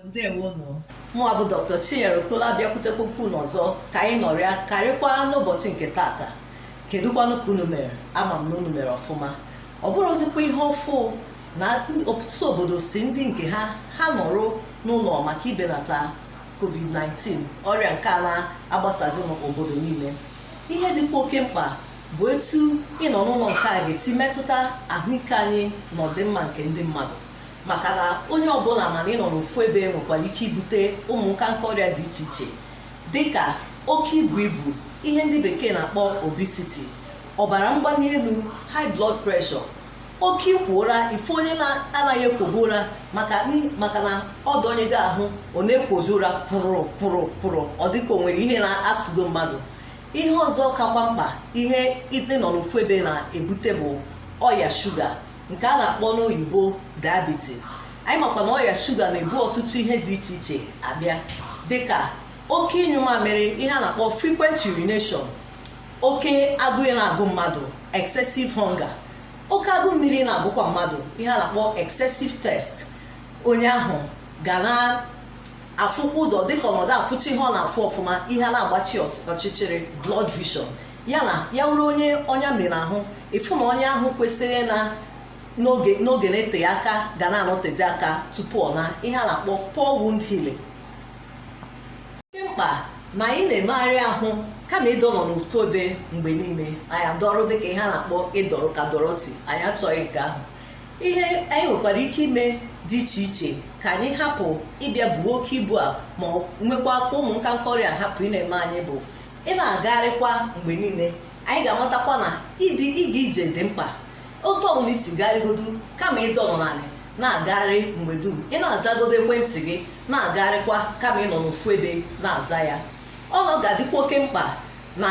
ndewonụ mụnwa bụ dr chinyere okola bịakwutekwa unu ọzọ ka anyị nọrịa karịkwa n'ụbọchị nke taata kedụkwanụ ka unu mere ama m na unu mere ọfụma ọ bụrọzikwa ihe ọfụ na ọtụtụ obodo sị ndị nke ha ha nọrọ n'ụlọ maka ibenata covid-19 ọrịa nke a na-agbasazi n'obodo niile ihe dịkwa oke mkpa bụ etu ịnọ n'ụlọ nke a ga-esi metụta ahụike anyị na ọdịmma nke ndị mmadụ maka na onye ọbụla ma na ịnọ n'ofu ebe nwekwara ike ibute ụmụ nkanka ọrịa dị iche iche dịka oke ibu ibu ihe ndị bekee na-akpọ obesity ọbara mgbali elu high blood pressure oke ikwo ụra ịfụ onye na-anaghị ekwobu ụra maka n'i- maka na ọ dọnye gị ahụ ọ na-ekwozi ụra kụrụ kụrụ kụrụ ọ dịka o nwere ihe na-asụdo mmadụ ihe ọzọ kakwa mkpa ihe ịdọ nọ n'ofu ebe na-ebute bụ ọya shuga nke a na-akpọ n'oyibo diabetes anyị makwa na ọrịa shuga na-ebu ọtụtụ ihe dị iche iche abịa dịka oke ịnyụ mamịrị ihe a na-akpọ frequent urination oke agụụ na-agụ mmadụ excessive hunger oke agụụ mmiri na-agụkwa mmadụ ihe a na-akpọ excessive thirst onye ahụ ga na-afụkwa ụzọ dịka ọ na-adịghị afụcha ihe ọ na-afụ ọfụma ihe na-agbachi ọchịchịrị blurred vision ya na ya wụrụ onye ọnya mere ahụ ịfụ na ọnya ahụ kwesịrị ịna n'oge n'oge na-eteghị aka ga na-anọtezi aka tupu ọ naa ihe a na-akpọ poor wound healing dị mkpa na anyị na-emegharị ahụ kama ịdọ nọ n'ofu ebe mgbe niile anyị adọrọ dịka ihe a na-akpọ ịdọrọ ka dọrọti anyị achọghị nke ahụ ihe anyị nwekwara ike ime dị iche iche ka anyị hapụ ịbịa buo oke ibu a ma ọ nwekwakwa ụmụ nka nka ọrịa hapụ ị na-eme anyị bụ ị na-agagharịkwa mgbe niile anyị ga-amatakwa na ịdị ịga ije dị mkpa otu ọbụla i si gagharịgodu kama ịdọ nọ n'ala na-agagharị mgbe dum ị na-azagodu ekwentị gị na-agagharịkwa kama ịnọ n'ofu ebe na-aza ya ọnụ ga-adịkwa oke mkpa na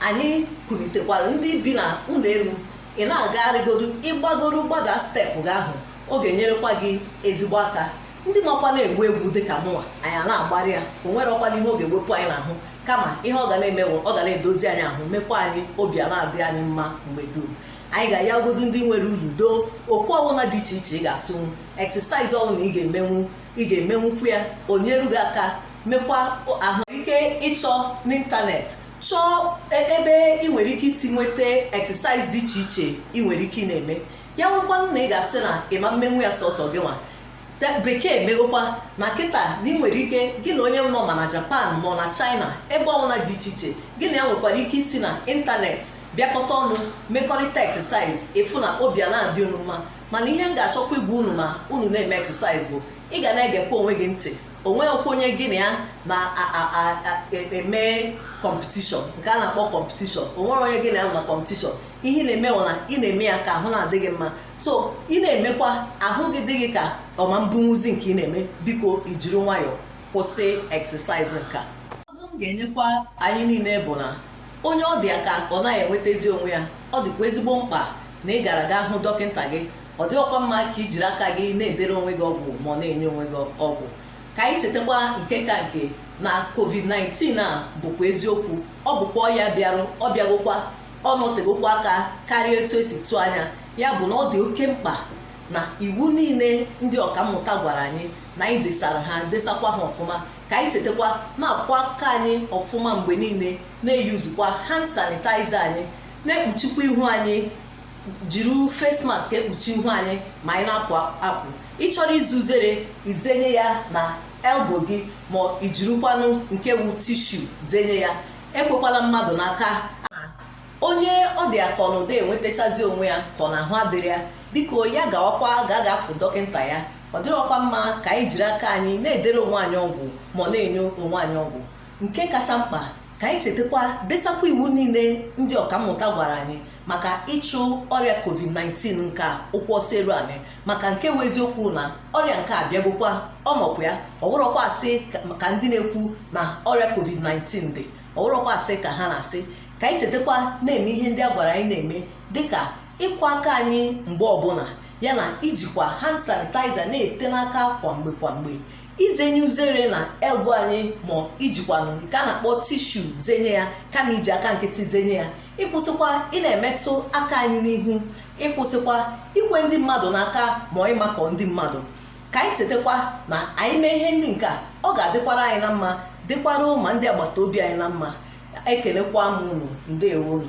anyị kulitekwara ndị bi na ụlọ elu ị na-agagharịgodu ịgbagoro gbada step gị ahụ ọ ga-enyerekwa gị ezigbo aka ndị makwanụ agba egwu dị ka mụnwa anyị a na-agbarị ya o nwerọkwanụ ihe ọ ga-ewepụ anyị n'ahụ kama ihe ọ ga na-eme bụ ọ ga na-edozi anyị ahụ mekwa anyị obi a na-adị anyị mma mgbe dum anyị ga-ayagodu ndị nwere ulu doo okwu ọbụla dị iche iche ị ga-atụnwu exercise ọbụla ị ga-emenwu ị ga-emenwukwu ya o nyere gị aka nwekwara ike ịchọ n'ịntanetị chọọ e- ebe ị nwere ike isi nweta exercise dị iche iche ị nwere ike ị na-eme ya wụrụkwanụ na ị ga-asị na ị ma emenwu ya sọsọ gị nwa bekee emegokwa na kịta na ị nwere ike gị na onye nọ ma na japan ma ọ na china ebe ọbụla dị iche iche gị na ya nwekwara ike isi na ịntanetị bịakọta ọnụ mekọrịta exercise ị fụ na obi a na-adị unu mma mana ihe m ga-achọkwa ịgwa unu ma unu na-eme exercise bụ ị ga na-egekwa onwe gị ntị onweghịkwa onye gị na ya na-eme kọmpetishọn nke a na-akpọ kọmpetishọn onwero onye gị na ya nọ na kọmpetishọn ihe ị na-eme na ị na-eme ya ka ahụ na-adị gị mma so ị na-emekwa ahụ gị dị gị ka ọ ma ebunwuzi nke ị na-eme biko ijiri nwayọọ kwụsị exercise nka ọdụ m ga-enyekwa anyị niile bụ na onye ọ dị ya ka ọ naghị enwetazi onwe ya ọ dịkwa ezigbo mkpa na ị gara gaa hụ dọkịta gị ọ dịrọkwa mma ka i jiri aka gị na-edere onwe gị ọgwụ ma ọ na-enye onwe gị ọgwụ ka anyị chetakwa nke ka nke na covid-19 a bụkwa eziokwu ọ bụkwa ọya bịarụ ọ bịagokwa ọ nọtegokwa aka karịa etu esi tụọ anya ya bụ na ọ dị oke mkpa na iwu niile ndị ọkammụta gwara anyị na anyị desara ha desakwa ha ọfụma ka anyị chetakwa na-akwọkwa aka anyị ọfụma mgbe niile na-eyuzukwa hand sanitizer anyị na-ekpuchikwa ihu anyị jiri face mask ekpuchi ihu anyị ma anyị na-apụ apụ ị chọrọ ize uzere izenye ya na elbo gị ma ijirikwanụ nke wu tishu zenye ya ekwekwala mmadụ n'aka onye ọ dị ya ka ọ na ọ dịrọ enwetachazi onwe ya ka ọ na ahụ adịrọ ya biko ya gawakwa ga gaa fụ dọkịta ya ọ dịrọkwa mma ka anyị jiri aka anyị na-edere onwe anyị ọgwụ ma ọ na-enye onwe anyị ọgwụ nke kacha mkpa ka anyị chetakwa desakwa iwu niile ndị ọkammụta gwara anyị maka ịchụ ọrịa covid-19 nke a ụkwụ ọsọ eru anị maka nke bụ eziokwu na ọrịa nke a bịagokwa ọ nọkwa ya ọ bụrọkwa asị ka ndị na-ekwu na ọrịa covid-19 dị ọ bụrọkwa asị ka ha na-asị ka anyị chetakwa na-eme ihe ndị a gwara anyị na-eme dịka ịkwọ aka anyị mgbe ọbụla ya na ijikwa hand sanitizer na-ete n'aka kwa mgbe kwa mgbe izenye uzere na elbo anyị ma ijikwanụ nke a na-akpọ tishu zenye ya kama iji aka nkịtị zenye ya ịkwụsịkwa ị na-emetụ aka anyị n'ihu ịkwụsịkwa ikwe ndị mmadụ n'aka ma ọ na ịmakọ ndị mmadụ ka anyị chetakwa na anyị mee ihe ndị nke a ọ ga-adịkwara anyị na mma dịkwara ma ndị agbata obi anyị na mma ekenekwa m unu ndewo unu